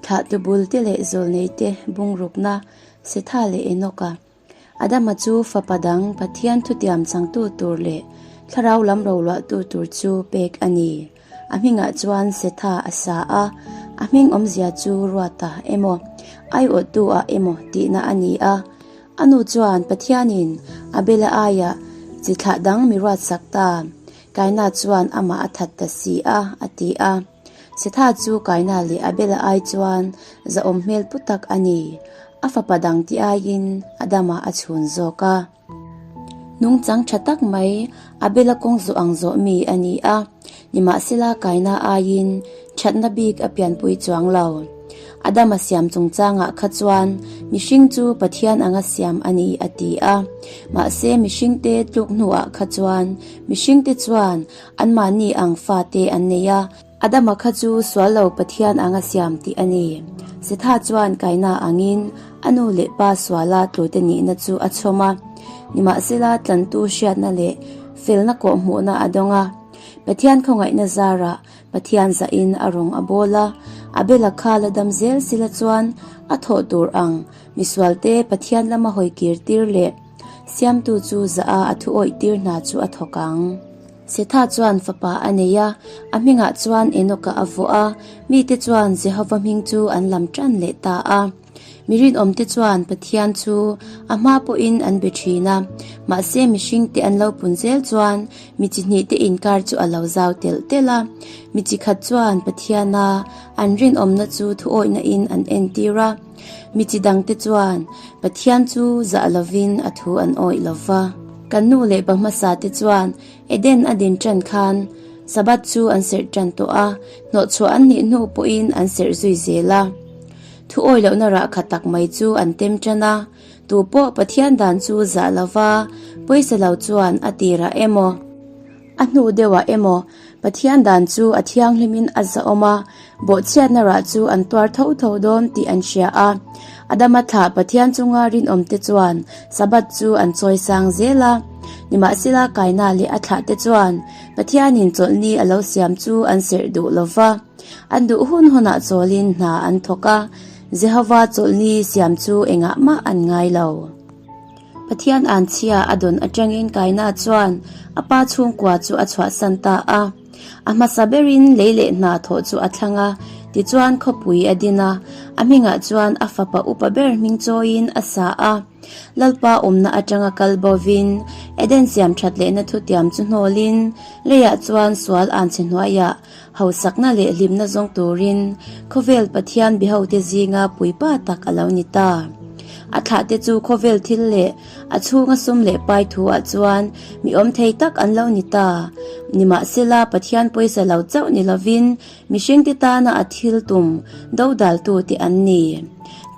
Thlah tu bul te leh zawlnei te bungrukna Setha leh Enoka, Adama chu fapa dang Pathian thutiam changtu tur leh thlarau lam roluahtu tur chu pek a ni. A hmingah chuan Setha a sa a, a hming awmzia chu Ruata emaw, Aiawhtu a emaw tihna a ni a. A nu chuan Pathianin Abela aiah chi thlah dang mi ruatsak ta, Kaina chuan amah a that ta si a, a ti a. Setha chu Kaina leh Abela ai chuan zahawm hmel pu tak a ni. A fapa dang ti aiin Adama a chhun zawk a. Nungchang tha tak mai Abela kawng zawh ang zawh mi a ni a, nimahsela Kaina aiin thatna bik a pianpui chuang lo. Adama siam chungchangah kha chuan mihring chu Pathian anga siam a ni, a ti a. Mahse, mihringte tluk hnuah kha chuan Mihring te chuan an mahni ang fate an nei a. Adama kha chu sual lo Pathian ang a siam tih a ni. Setha chuan kaina angin a nu leh pa suala tlawite nihna chu a chhawm a. Nimahsela tlantu hriatna leh felna kawhhmuhna a dawng a. Pathian khawngaihna zarah Pathian zahin a rawng a bawl a. Abela kha la dam zel sila chuan a thawh tur ang misualte Pathian lama hawi kirtir leh. Siamtu chu zah a, a thu awih tir hna chu a thawk ang. Setha chuan fapa a nei a, a hmingah chuan Enokah a vawh a. Mite chuan Jehova hming chu an lam ṭan leh ta a. Mi rinawmte chuan Pathian chu a hma pawhin an be ṭhin a. Mahse, mihringte an lo pun zel chuan mi chi hnihte inkar chu a lo zau telh telh a. Mi chi khat chuan Pathiana an rinawmna chu thuawihna in an entir a. Mi chi dangte chuan Pathian chu zah lovin a thu an awih lo va. Kan nu leh pa hmasa te chuan Eden adin ṭan khan Sabbath chu an serh ṭan tawh a, hnawhchhuah an nih hnu pawhin an serh zui zel a. Thu awih lohna rahkha tak mai chu an tem ṭan a, tu pawh Pathian dan chu zah lova pawisa lo chuan a tirah emaw, a hnu deuhah emaw, Pathian dan chu a thianghlimin a zahawm a, bawhchhiatna rah chu an tuar tho tho dawn tih an hria a. Adama thlah Pathian chunga rinawmte chuan Sabbath chu an chawisang zel a, nimahsela kaina leh a thlahte chuan Pathianin chawlhni a lo siam chu an serh duh lo va, an duh hun hunah chawlhin hna an thawk a. Jehova chawlhni siam chu engahmah an ngai lo. Pathian an chhia a dawn atangin Kaina chuan a pa chhungkua chu a chhuahsan ta a, a hmasa berin lei leh hna thawh chu a thlang a, tichuan khawpui a din a, a hmingah chuan a fapa upa ber hming chawiin a sa a. Lalpa awmna atanga kal bawvin Eden siamthat lehna thutiam chu hnawlin, reiah chuan sual an chhe hnuaiah Hausakna leh hlimna zawng turin khawvel Pathian biahote zinga puipa tak a lo ni ta. A thlahte chu khawvel thil leh a chhunga sum leh pai thuah chuan mi awm thei tak an lo ni ta. Nimahsela, Pathian pawisa lo chauh ni lovin mihringte tana a thil tum dodaltute an ni.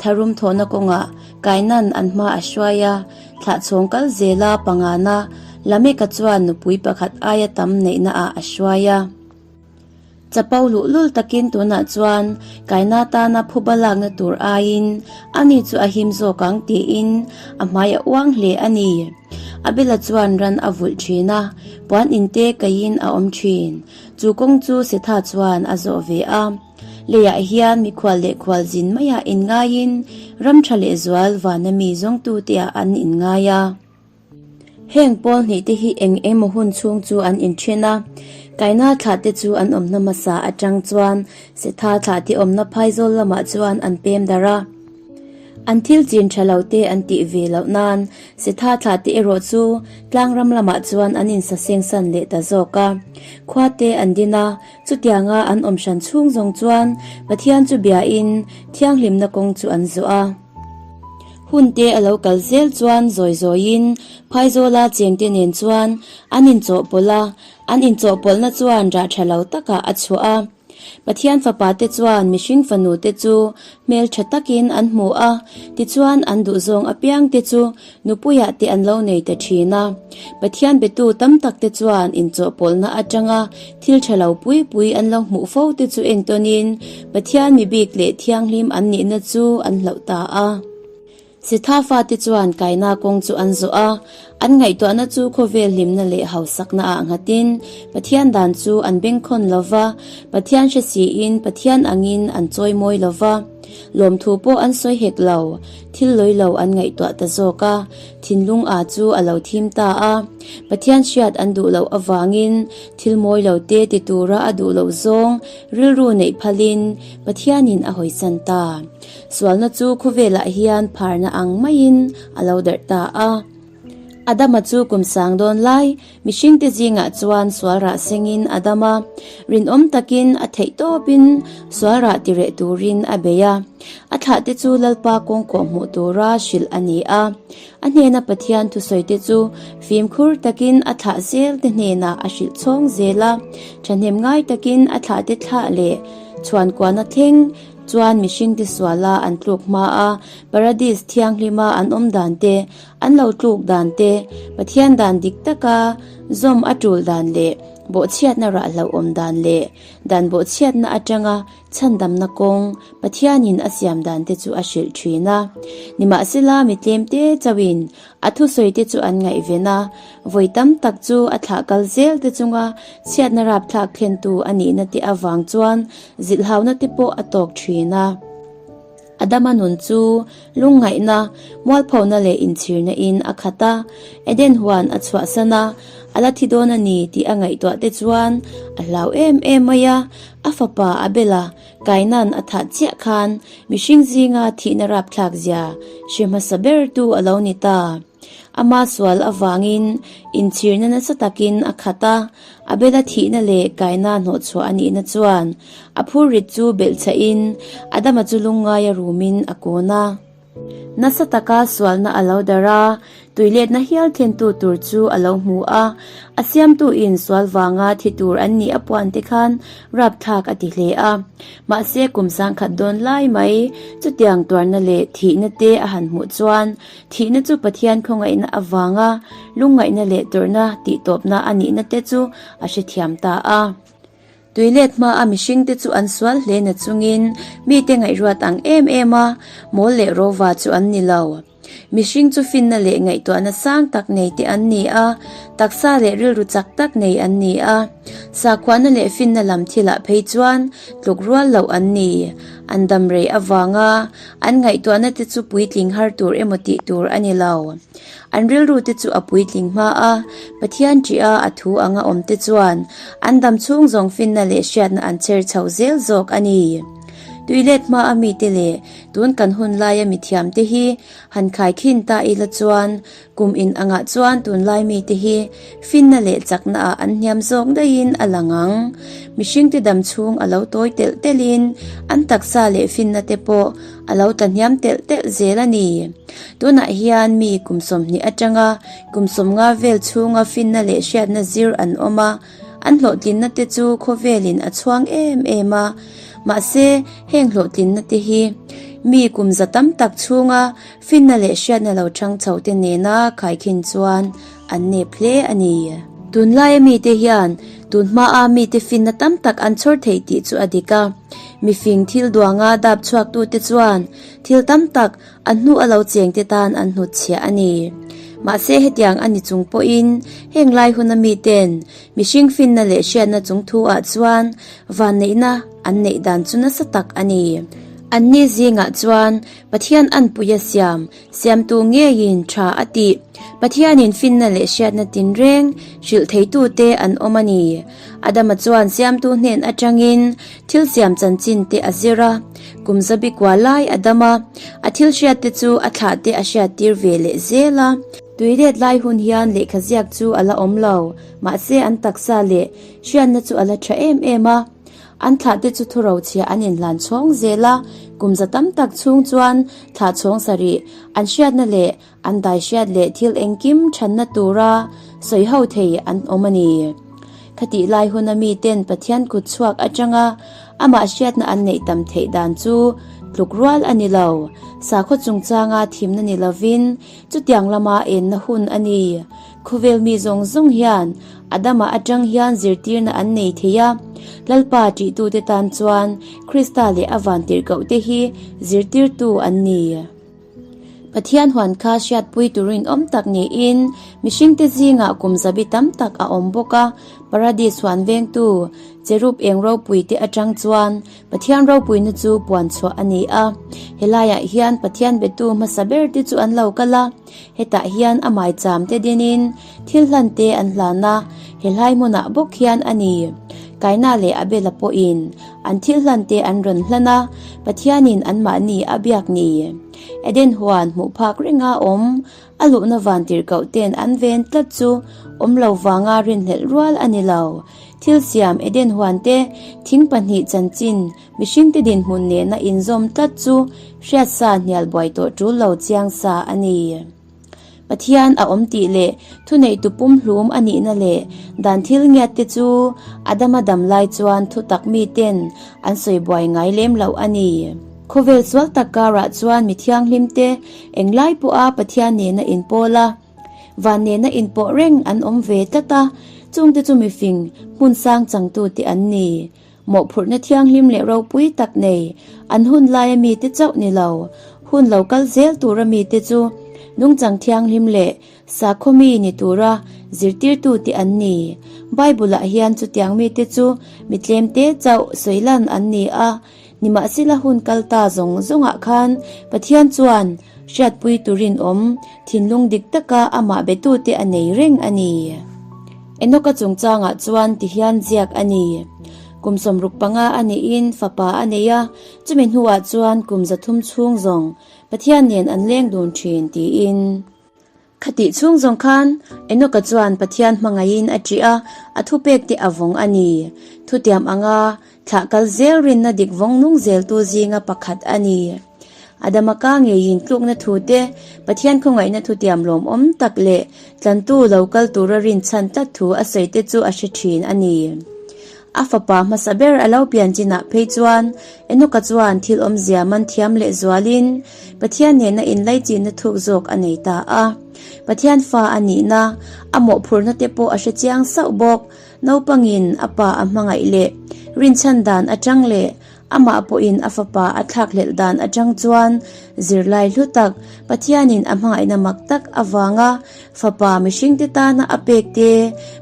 Tharum thawhna kawngah kainan an hma a hruai a. thlah chhawng kal zela pangana Lameka chuan nupui pakhat aia tam neihna ah a hruai a. Chapo luh lul takin tunah chuan kaina atana phuba lakna tur aiin a ni chu a him zawk ang tiin a hmai a uang hle a ni. A bela chuan ran a vulh thin a, puan inte kaihin a awm thin. Chu kawng chu Setha chuan a zawh ve a. Leiah hian mikhual leh khual zin maia in ngaiin ramtha leh zual vana mi zawngtu te ah an in ngai a. Heng pawl hnih te hi eng eng maw hun chhung chu an in thin a. Kaina thlah te chu an awmna hmasa atang chuan setha thlah te awmna phaizawl lamah chuan an pem darh a. An thil chin tha lo te an tih ve loh nan setha thlah te erawh chu tlangram lamah chuan an in sa sengsan leh ta zawk a. Khua te an din a. Chutianga an awm hran chhung zawng chuan Pathian chu biain thianghlimna kawng chu an zawh a. Hunte a lo kal zel chuan zawi zawiin Phaizawla chengte nen chuan an inchawhpawlh a, an inchawhpawlhna chuan rah tha lo takah a chhuah a. Pathian fapa te chuan mihring fanute chu hmeltha takin an hmu a, tichuan an duhzawng apiangte chu Nupuiah te an lo nei ta thin a, Pathian biatu tam tak te chuan inchawhpawlhna atanga thil tha lo pui pui an lo hmuh fo te chu entawnin Pathian mi bik leh thianghlim an nihna chu an hlauh ta a. Sethafa te chuan kaina kawng chu an zawh a, an ngaihtuahna chu khawvel hlimna leh hausakna ah nghatin Pathian dan chu an beng khawn lo va, Pathian hre siin Pathian angin an chawi mawi lo va, lawmthu pawh an sawi hek lo, Thil lawi lo an ngaihtuah ta zawk a, thinlung aa chu a lo thim ta a. Pathian hriat an duh loh avangin thil mawi lo te ti tura a duh loh zawng rilru neih phalin Pathianin a hawisan ta. Sualna chu khawvelah hian pharna ang maiin a lo darh ta a. Adama chu kum sang dawn lai Mihringte zingah chuan sualrah sengin a dam a, rinawm takin a theih tawpin sualrah ti reh turin a bei a. A thlahte chu Lalpa kawng kawh hmuh tura hrilh a ni a. A hnena Pathian thusawite chu fimkhur takin a thlah zelte hnenah a hrilh chhawng zel a. Thahnem ngai takin a thlahte thlah leh chhuan kuahna thleng chuan mihringte suala an tluk hma a, Paradise thianghlima an awm dante An lo tluk dan te, Pathian dan dik taka zawm a tul dan leh bawhchhiatna rah hlauh awm dan leh dan bawhchhiatna atanga chhandamna kawng Pathianin a siam dan te chu a hrilh thin a. Nimahsela, mi tlemte chauhin a thusawi te chu an ngaihven a, vawi tam tak chu a thlah kal zel te chunga chhiatna rapthlak thlentu a nihna te avang chuan zilhhauna te pawh a tawk thin a. A dama nun chu lungngaihna, mualphona leh inchhirna in a khat a, Eden huan a chhuah san a, a la thi dawn a ni tih a ngaihtuah te chuan a hlau em em mai a, a fapa a bela kainan a thah chiah khan mihring zinga thihna rapthlak zia hre hmasa ber tu a lo ni ta. Amah sual avangin inchhirna nasa takin a khat a, a bela thihna leh kaina hnawhchhuah a nihna chuan a phur rit chu belh chhahin Adama chu lungngai a rumin a kawn a. Nasa taka sualna a lo darh a, tuiletna hial thlentu tur chu a lo hmu a, a siamtuin sual vanga thi tur an nih a puan te khan rapthlak a ti hle a. Mahse kum sangkhat dawn lai mai chutiang tuarna leh thihna te a han hmuh chuan, Thihna chu Pathian khawngaihna avanga lungngaihna leh tawrhna tihtawpna a nihna te chu a hrethiam ta a. Tuilet hmaa mihringte chu an sual hle na chungin mite ngaihruat ang em em a mawl leh rova chu an ni lo. Mihring chu finna leh ngaihtuahna sang tak nei te an ni a, taksa leh rilru chak tak nei an ni a. Sakhuahna leh finna lam thilah phei chuan tluk rual loh an ni. An damrei avanga An ngaihtuahna te chu puitling har tur emaw tih tur a ni lo. An rilru te chu a puitling hma a, Pathian tih a a thu anga awm te chuan an dam chhung zawng finna leh hriatna an chher chho zel zawk a ni. Tuilet hma a mite leh tun kan hun laia mithiam te hi han khai khin ta ila chuan Kum in angah chuan tunlai mite hi finna leh chaknaah an hniam zawk daihin a lang ang. Mihringte dam chhung a lo tawi telh telhin an taksa leh finnate pawh a lo tahniam telh telh zel a ni. Tunah hian mi kum sawmhnih atanga kum sawmnga vel chhunga finna leh hriatna zir an awm a, an hlawhtlinnate chu khawvelin a chhuang em em a. Mahse, heng hlawhtlinnate hi mi kum za tam tak chhunga Finna leh hriatna lo chang chhoh te nena Khaikhin chuan an nep hle a ni. Tunlaia mite hian tun hmaa mite finna tam tak an chhawr thei tih chu a dik a. Mifing thil duanga dap chhuaktu te chuan thil tam tak an hnu a lo cheng te tan an hnut chhiah a ni. Mahse hetiang a ni chung pawhin heng lai huna miten mihring finna leh hriatna chung thu ah chuan vanneihna an neih dan chu nasa tak a ni. Anni zingah chuan Pathian an puih a siam, siamtu ngeiin tha a ti. Pathianin finna leh hriatna tin reng hrilh theitute an awm a ni. Adama chuan siamtu hnen atangin thil siam chanchinte a zir a. Kum zabi kua lai Adama, a thil hriatte chu a thlahte a hriattir ve leh zel a. Tui let lai hun hian lehkha ziak chu a la awm lo, mahse an taksa leh hriatna chu a la tha em em a. An thlah te chu thu rochhia an inhlan chhawng zel a, kum za tam tak chhung chuan thlah chhawng sa rih. An hriatna leh an daihriat leh thil engkim ṭhanna tura sawi ho thei an awm a ni. Khatih lai huna mi ten Pathian kut chhuak aṭanga amah hriatna an neih tam theih dan chu tluk rual a ni lo. Sakhaw chungchanga thimna ni lovin chutiang lama enna hun a ni. Khawvel mi zawng zawng hian Adama atang hian zirtirna an nei thei a. Lalpa ṭihtute tan chuan Krista leh a vantirhkohte hi zirtirtu an ni. Pathian huan kha hriatpui tur rinawm tak niin mihringte zingah kum zabi tam tak a awm bawk a. Paradis huan vengtu cherub eng ropuite atang chuan Pathian ropuina chu puan chhuah a ni a, he laiah hian Pathian biatu hmasa ber te chu an lo kal a, hetah hian a maicham te dinin thil hlan te an hlan a, he hlai hmunah bawk hian a ni. Kaina leh Abela pawhin an thil hlan te an rawn hlan a, Pathianin anmahni a biak ni. Eden huan hmuh phak renga awm A luhna van tirhkoh ten an ve an tlat chu awm lo vanga rin hlelh rual a ni lo. Thil siam Eden huan te, thing pahnih chanchin mihring te dinhmun nena inzawm tlat chu hriatsa hnial buai tawh tul lo chiang sa a ni. Pathian a awm tih leh thuneitu pumhlum a nihna leh dan thil ngiat te chu Adam a dam lai chuan thutak miten an sawi buai ngai lem loh a ni. Khawvel sual tak karah chuan mi thianghlim te eng lai pawha Pathian nena in pawl a, van nena in pawh reng an awm ve tlat a, chungte chu mifing hmun sang changtu te an ni. Mawhphurhna thianghlim leh ropui tak nei an hun laia mi te chauh ni lo, hun lo kal zel tura mi te chu nungchang thianghlim leh sakhaw mi ni tura zirtirtu te an ni. Bible-ah hian chutiang mi te chu mi tlemte chauh sawilan an ni a, Nimahsela hun kal ta zawng zawngah khan Pathian chuan hriatpui turin awm thinlung dik taka amah betute a nei reng a ni. Enoka chungchangah chuan ti hian ziak a ni, Kum sawmruk panga a nihin fapa a nei a, chumi hnuah chuan kum zathum chhung zawng Pathian nen an leng dun thin, tiin. Khatih chhung zawng khan Enoka chuan Pathian hmangaihin a ṭih a, a thupek te a vawng a ni. Thutiam anga thlah kal zel rinna dik vawng nung zeltu zinga pakhat a ni. Adama ka ngeiin tlukna thute, Pathian khawngaihna thutiam lawmawm tak leh tlantu lo kal tura rinchhan tlat thu a sawi te chu a hre ṭhin a ni. A fapa hmasa ber a lo pian chinah phei chuan Enoka chuan thil awmzia man thiam lehzualin Pathian nena inlaichina thuk zawk a nei ta a. Pathian fa a nihna, a mawhphurhna te pawh a hre chiang sauh bawk. Naupangin a pa a hmangaih leh rinchhan dan atang leh Amah pawhin a fapa a thlak lelh dan atang chuan zirlai hlu tak Pathianin a hmangaihna mak tak avanga fapa mihringte tana a pek te,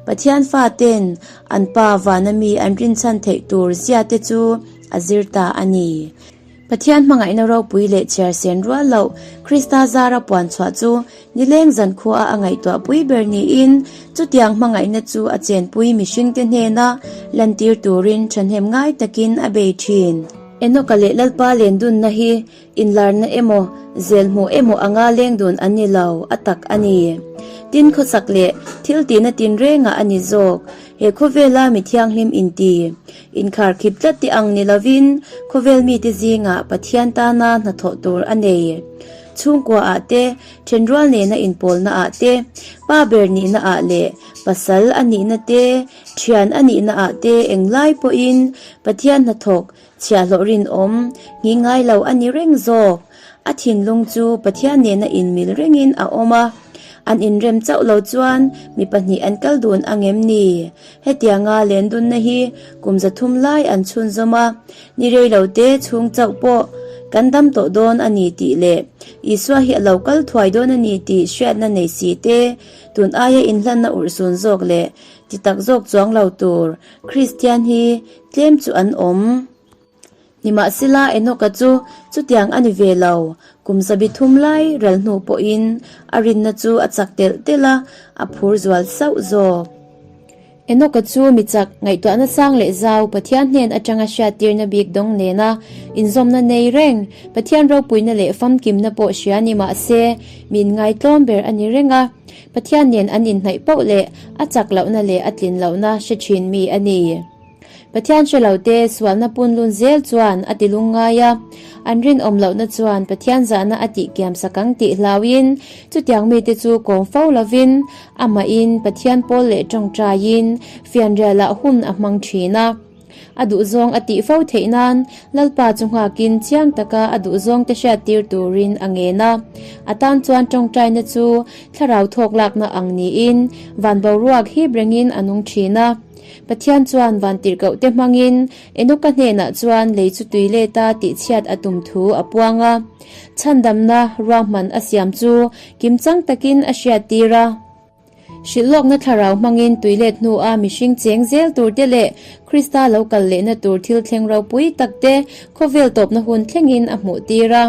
Pathian faten an pa vana mi an rinchhan theih tur zia te chu a zir ta a ni. Pathian hmangaihna ropui leh chhiarsen rual loh Krista zara puanchhuah chu Nileng zankhuaa a ngaihtuah pui ber niin chutiang hmangaihna chu a chenpui mihringte hnena lantir turin thahnem ngai takin a bei thin. Enoka leh Lalpa lendunna hi inlarna emaw, zelhmuh emaw anga leng dun an ni lo, a tak a ni. Tin khawsak leh thiltihna tinrengah a ni zawk. He khawvela mithianghlim inti, inkhar khip tlat te ang ni lovin khawvel mite zingah Pathian tana hnathawh tur a nei. Chhungkua ah te, thenrual nena inpawlna ah te, pa ber nihna ah leh pasal a nihna te, thian a nihna ah te eng lai pawhin Pathian hnathawk chhiahhlawh rinawm hnih ngai lo a ni reng zawk. A thinlung chu Pathian nena inmil rengin a awm a, an inrem chauh lo chuan mi pahnih an kal dun angem ni? Hetianga len dunna hi kum za thum lai an chhunzawm a, ni rei lo te chhung chauh pawh kan dam tawh dawn a ni tih leh Isua hi a lo kal thuai dawn a ni tih hriatna nei si te, tun aia inhlanna urh sun zawk leh ti tak zawk chuang lo tur Kristian hi tlem chu an awm. Nimahsela Enoka chu chutiang a ni ve lo. Kum sabi thum lai rel hnu pawhin a rinna chu a chak telh telh a, a phur zual sauh zawk. Enoka chu mi chak ngaihtuahna sang leh zau, Pathian hnen atanga hriattirna bik dawng nena inzawmna nei reng, Pathian ropuina leh famkimna pawh hria nimahse mi inngaihtlawm ber a ni reng a. Pathian nen an inhnaih pauh leh a chak lohna leh a tlin lohna hre thin mi a ni. Pathian hre lote sualna punlun zel chuan a tilung ngai a, an rinawm lohna chuan Pathian zahna a tihkiam sak ang tih hlauhin chutiang mite chu kawm fo lovin amahin Pathian pawl leh tawngtaiin fianrialah hun a hmang thin a. A duhzawng a tih fo theih nan Lalpa chu nghakin chiang taka a duhzawngte hriattir turin a ngen a. A tan chuan tawngtaina chu thlarau thawk lakna ang niin van boruak hip rengin a nung thin a. Pathian chuan van tirhkohte hmangin Enoka hnenah chuan lei chu tui let a tih chhiat a tum thu a puang a. Chhandamna ruahman a siam chu kimchang takin a hriattir a. Hrilhlawkna thlarau hmangin tui let hnua mihring cheng zel turte leh Krista lo kal lehna tur thil thleng ropui takte khawvel tawpna hun thlengin a hmuhtir a.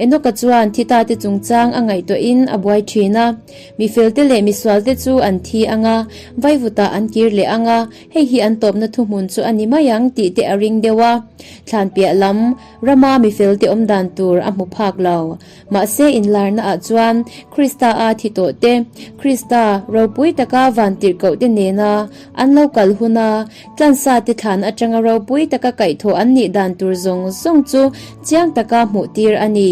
Enoka chuan thi ta te chungchang a ngaihtuah in a buai thin a, Mifel te leh misual te chu an thi ang a, vaivutah an kir leh ang a, hei hi an tawpna thuhmun chu a ni mai ang tih te a ring deuh a, thlanpiah lam rama mifel te awmdan tur a hmu phak lo. Mahse inlarna ah chuan Krista a thi tawh te, Krista ropui taka vantirhkoh te nena an lo kal hun a, tlansa te thlan atanga ropui taka kaihthawh an nih dan tur zawng zawng chu Chiang taka hmuh tir a ni.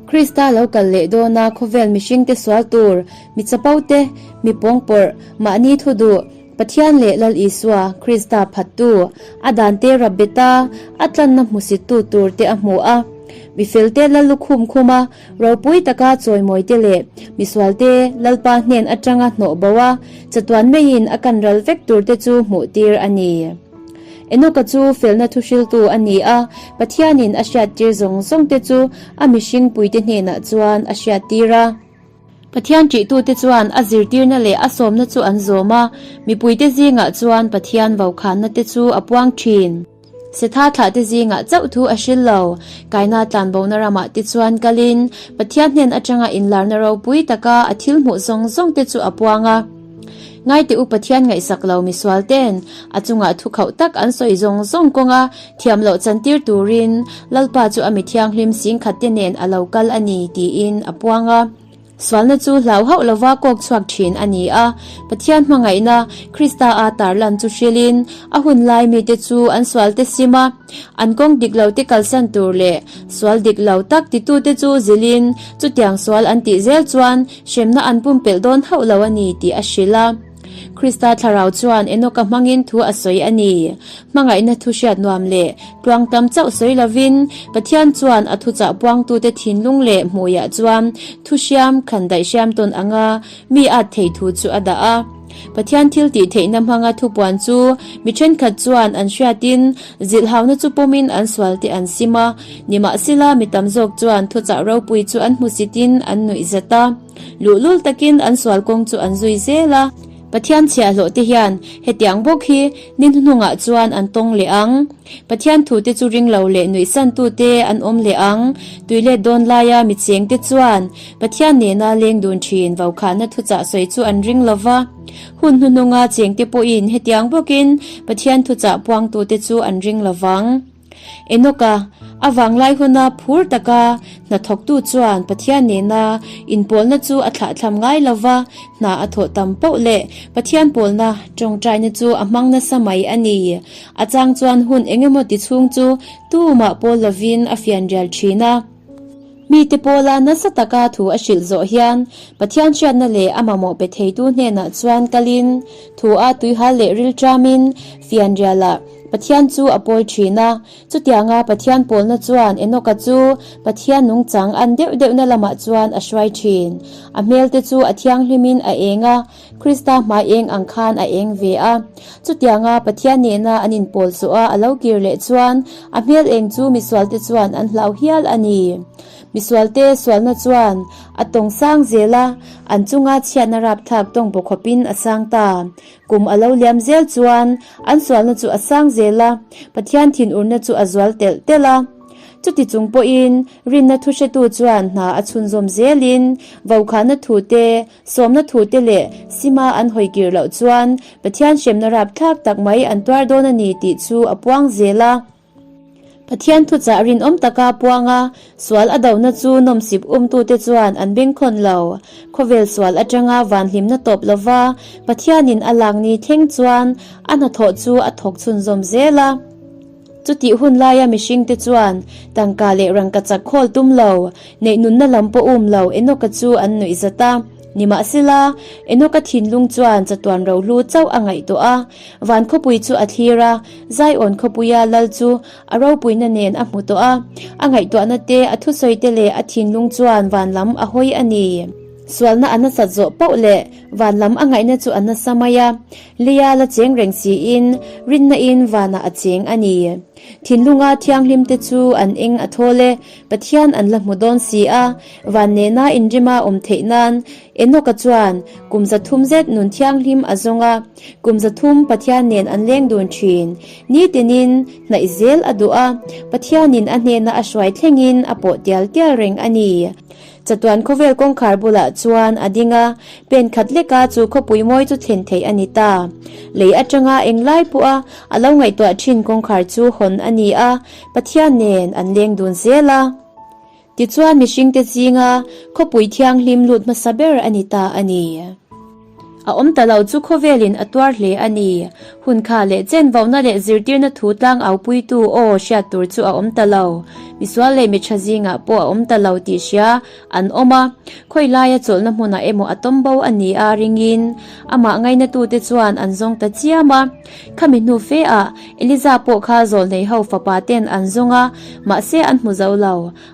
Krista lo kal leh dawna khawvel mihringte sual tur, mi chapo te, mi pawngpawrh, mahni thu duh, Pathian leh Lal Isua, Krista phattu, a dante Rabbeta, a tlanna hmusittu tur te a hmu a. Mi felte Lal lukhum khum a, ropui taka chawimawi te leh misual te Lalpa hnen atanga hnawh bo a, chatuan meiin a kan ral vek tur te chu hmuh tir a ni. Enoka chu felna thuhriltu a ni a, Pathianin a hriattir zawng zawngte chu a mihring puite hnenah chuan a hriattir a. Pathian ṭihtute chuan a zirtirna leh a sawmna chu an zawm a, mipuite zingah chuan Pathian vaukhannate chu a puang ṭhin. Setha thlahte zingah chauh thu a hril lo. Kaina tlanbona ramah te chuan kalin Pathian hnen aṭanga inlarna ropui taka a thil hmuh zawng zawngte chu a puang a. Ngaite u Pathian ngaihsak lo misual ten a chungah thu khauh tak an sawi zawng zawng kawng a, thiam loh chantir turin Lalpa chu a mi thianghlim sing khat te nen a lo kal a ni tiin a puang a. Sualna chu hlau hauh lova kawk chhuak thin a ni a, Pathian hmangaihna Krista aa tarlan chu hrilhin a hun lai mite chu an sual te sim a, An kawng dik lo te kalsan tur leh sual dik lo tak titute chu zilin chutiang sual an tih zel chuan hremna an pumpelh dawn hauh lo a ni tih a hrilh a. Krista thlarau chuan Enoka hmangin thu a sawi a ni. Hmangaihna thu hriat nuam leh tluang tam chauh sawi lovin, Pathian chuan a thuchah puangtute thinlung leh hmuiah chuan thuhriam, khan daihriam tawn anga mi at thei thu chu a dah a. Pathian thil tih theihna hmanga thupuan chu mi thenkhat chuan an hriatin zilhauna chu pawmin an sualte an sim a, nimahsela mi tam zawk chuan thuchah ropui chu an hmusitin an nuih zet a, luhlul takin an sual kawng chu an zui zel a. Pathian chhiahhlawhte hian hetiang bawk hi ni hnuhnungah chuan an tawng leh ang, Pathian thute chu ringlo leh nuihsantute an awm leh ang, tuilet dawn laia mi chengte chuan Pathian nena leng dun thin vaukhahna thuchah sawi chu an ring lo va, hun hnuhnunga chengte pawhin hetiang bawkin Pathian thuchah puangtute chu an ring lo vang. Enoka, a vanglai huna phur taka hnathawktu chuan Pathian nena inpawlna chu a thlahthlam ngai lo va, hna a thawh tam poh leh Pathian pawlna tawngtaina chu a hmang nasa mai a ni. A chang chuan hun engemaw tichhung chu tumah pawl lovin a fianrial thin a. Mite pawla nasa taka thu a hrilh zawh hian Pathian hriatna leh a mamawh pe theitu hnenah chuan kalin, thu a tuihal leh rilṭamin fianrialah Pathian chu a pawi ṭhin a. Chutianga Pathian pawlna chuan Enoka chu Pathian nungchang an deuh deuhna lamah chuan a hruai ṭhin. A hmelte chu a thianghlimin a eng a. Krista hmai eng ang khan a eng ve a. Chutianga Pathian nena an inpawl zawh a, a lo kir leh chuan a hmel eng chu misualte chuan an hlau hial a ni. Misualte sualna chuan a tawng sang zel a, an chunga chhiatna rapthlak tawng paw khawpin a sang ta. Kum a lo liam zel chuan an sualna chu a sang zel a, Pathian thinurna chu a zual telh telh a. Chutichung pawhin rinna thuhretu chuan hna a chhunzawm zelin vokhahna thute, Sawmna thute leh sima an hawi kir loh chuan Pathian hremna rap thlak tak mai an tuar dawn a ni tih chu a puang zel a. Pathian thuchah rinawm taka puang a sual a dona chu nawmsip umtute chuan an bengkhawn lo. Khawvel sual atanga van hlimna tawp lova Pathianin a lak ni thleng chuan a hnathawh chu a thawk chhunzawm zel a. Chutih hun laia mihringte chuan tangka leh rangka chak khawl tum lo, neih nunna lam pawh um lo Enoka chu an nuih zat a. Nimahsela, Enoka thinlung chuan chatuan rohlu chauh a ngaih tawh a. Van khawpui chu a thlir a, Zion khawpuia lal chu a ropuina nen a hmu tawh a. A ngaihtuahna te, a thusawite leh a thinlung chuan van lam a hawi a ni. Sualna a nasat zawh pauh leh van lam a ngaihna chu a nasa mai a. Leia la cheng reng siin rinna in vanah a cheng a ni. Thinlunga thianghlimte chu an eng a thawl e, Pathian an la hmu dawn si a, van nena inrima awm theih nan Enoka chuan kum za thum zet nun thianghlim a zawng a, kum za thum Pathian nen an leng dun thin. Nitin in hnaih zel a duh a, Pathianin a hnena a hruai thlengin a pawh tial tial reng a ni. Chatuan khawvel kawngkhar bulah chuan a ding a, pen khat lek a, chu khawpui mawi chu thlen theih a ni ta. Lei atanga eng lai pawh a, a lo ngaihtuah thin kawngkhar chu hawn a ni a, Pathian nen an leng dun zel a. Tichuan mihringte zinga khawpui thianghlim lut hmasa ber a ni ta a ni. A awm ta lo chu khawvelin a tuar hle a ni. Hun kha leh chenvohna leh zirtirna thu tlang aupuitu aw hriat tur chu a awm ta lo. Misual leh mitha zingah pawh a awm ta lo tih hria an awm a. Khawilaia chawlhna hmunah emaw a tawm bo a ni a, ringin amah ngainatute chuan an zawng ta chiam a. Khami hnu fe ah Eliza pawh kha zawlhnei ho fapa ten an zawng a, mahse an hmu zo lo.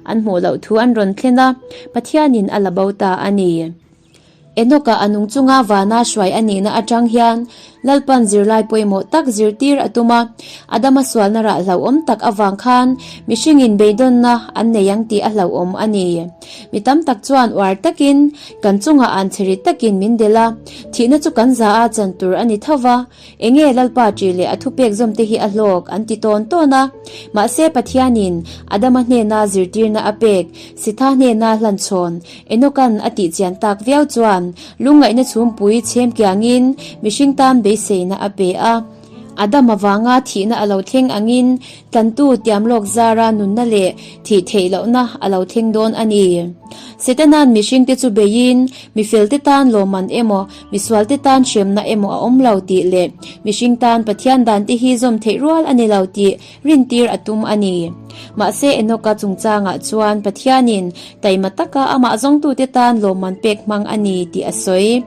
An hmuh loh thu an rawn thlen a, Pathianin a la bo ta a ni. Enoka a nung chunga vana hruai a nihna atang hian Lalpan zirlai pawimawh tak zirtir a tum a. Adama sualna rah hlauhawm tak avang khan mihringin beidawnna an nei ang tih a hlauhawm a ni. Mi tam tak chuan uar takin kan chungah an chhe ri takin min del a, thihna chu kan za a chan tur a ni tho va. Enge Lalpa ṭih leh a thupek zawmte hi a hlawk? an ti tawn tawn a. Mahse, Pathianin Adama hnena zirtirna a pek, Sitha hnena hlan chhawn Enokan a tihchian tak viau chuan lungngaihna chhungpui chhem kiangin mihring tan beiseina a pe a. Adam avanga thihna a lo thleng angin tlantu tiam lawk zara nunna leh thih theih lohna a lo thleng dawn a ni. Setanan mihringte chu beiin mi felte tan lawmman emaw, Misualte tan hremna emaw a awm lo tih leh mihring tan Pathian dante hi zawm theih rual a ni lo tih rintir a tum a ni. Mahse Enoka chungchangah chuan Pathianin taima taka amah zawngtute tan lawmman pek hmang a ni tih a sawi.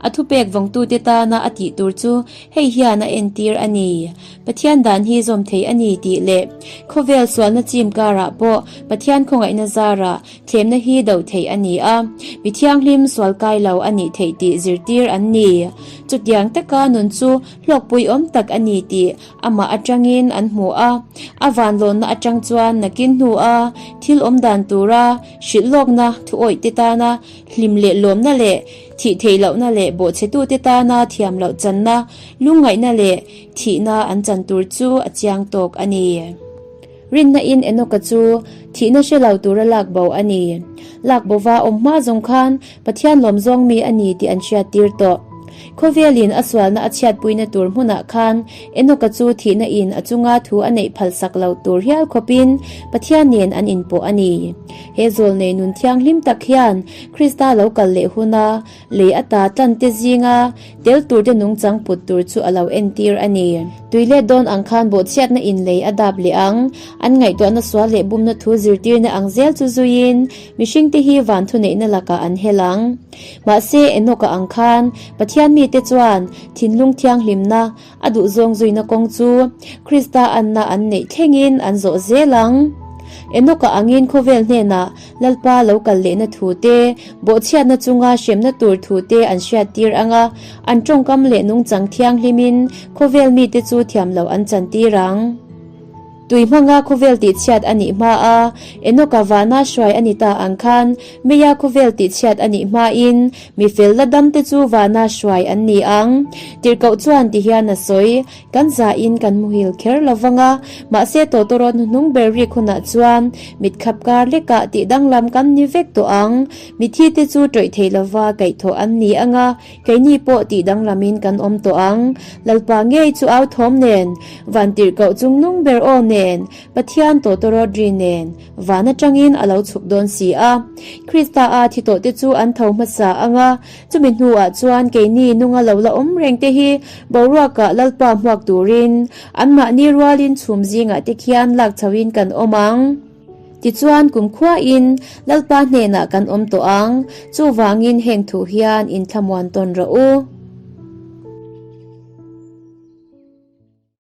A thupek vawngtute tana a tih tur chu hei hian a entir a ni, Pathian dan hi zawm thei a ni tih leh khawvel sualna chim karah pawh Pathian khawngaihna zarah thlemna hi doh theih a ni a, mi thianghlim sual kai lo a nih theih tih zirtir an ni. Chutiang taka nun chu hlawkpui awm tak a ni tih amah atangin an hmu a, a vanlawnna atang chuan nakin hnu a thil awm dan tura hrilh lawkna thuawihte tana hlim leh lawmna leh thih theih lohna leh bawhchhetute tana thiam loh channa lungngaihna leh thihna an chan tur chu a chiang tawk a ni. Rinna in Enoka chu thihna hre lo tura lak bo a ni. Lak bova awm hma zawng khan Pathian lawm zawng mi a ni tih an hriat tir tawh. Khawvelin a sualna a chhiatpuina tur hmunah khan Enoka chu thihna in a chunga thu a neih phalsak lo tur hial khawpin Pathian nen an inpawh a ni. He zawlnei nun thianghlim tak hian Krista lo kal leh huna, Lei ata tlante zinga tel turte nung chang put tur chu a lo entir a ni. Tui let dawn ang khan bawhchhiatna in lei a dap leh ang. An ngaihtuahna sual leh bumna thu zirtirna ang zel chu zuiin mihringte hi van thuneihna lakah an hel ang. Mahse, Enokah ang khan Pathian mite chuan thinlung thianghlimna A duhzawng zuina kawng chu Krista anna an neih thlengin an zawh zel ang. Enoka angin khawvel hnenah Lalpa lo kal lehna thute, bawhchhiatna chunga hremna tur thute an hriattir ang a, an tawngkam leh nungchang thianghlimin khawvel mite chu thiamloh an chantir ang. Tui hmanga khawvel tihchhiat a nih hma a, Enoka vana hruai a ni ta ang khan Meya khawvel tihchhiat a nih hmain mi fel la damte chu vana hruai an ni ang. Tirhkoh chuan ti hian a sawi, Kan zain kan muhil kher lo vang a, mahse Totoro hnuhnung ber rik hunah chuan mit khap kar lek a, tih danglam kan ni vek tawh ang. Mithite chu tawih theih lova kaihthawh an ni ang a, Keini pawh tih danglamin kan awm tawh ang. Lalpa ngei chu au thawm nen, Vantirh koh chung nung ber aw nen, Pathian tawtawr rawt ri nen, van atangin a lo chhuk dawn si a. Krista-a thi tawhte chu an tho hmasa ang a, chumi hnuah chuan keini nunga lo la awm reng te hi boruakah Lalpa hmuak turin anmahni rualin chhum zingah te khian lak chhoin kan awm ang. Tichuan kumkhua in Lalpa hnenah kan awm tawh ang, chuvangin heng thu hian inthlamuan tawn rawh u.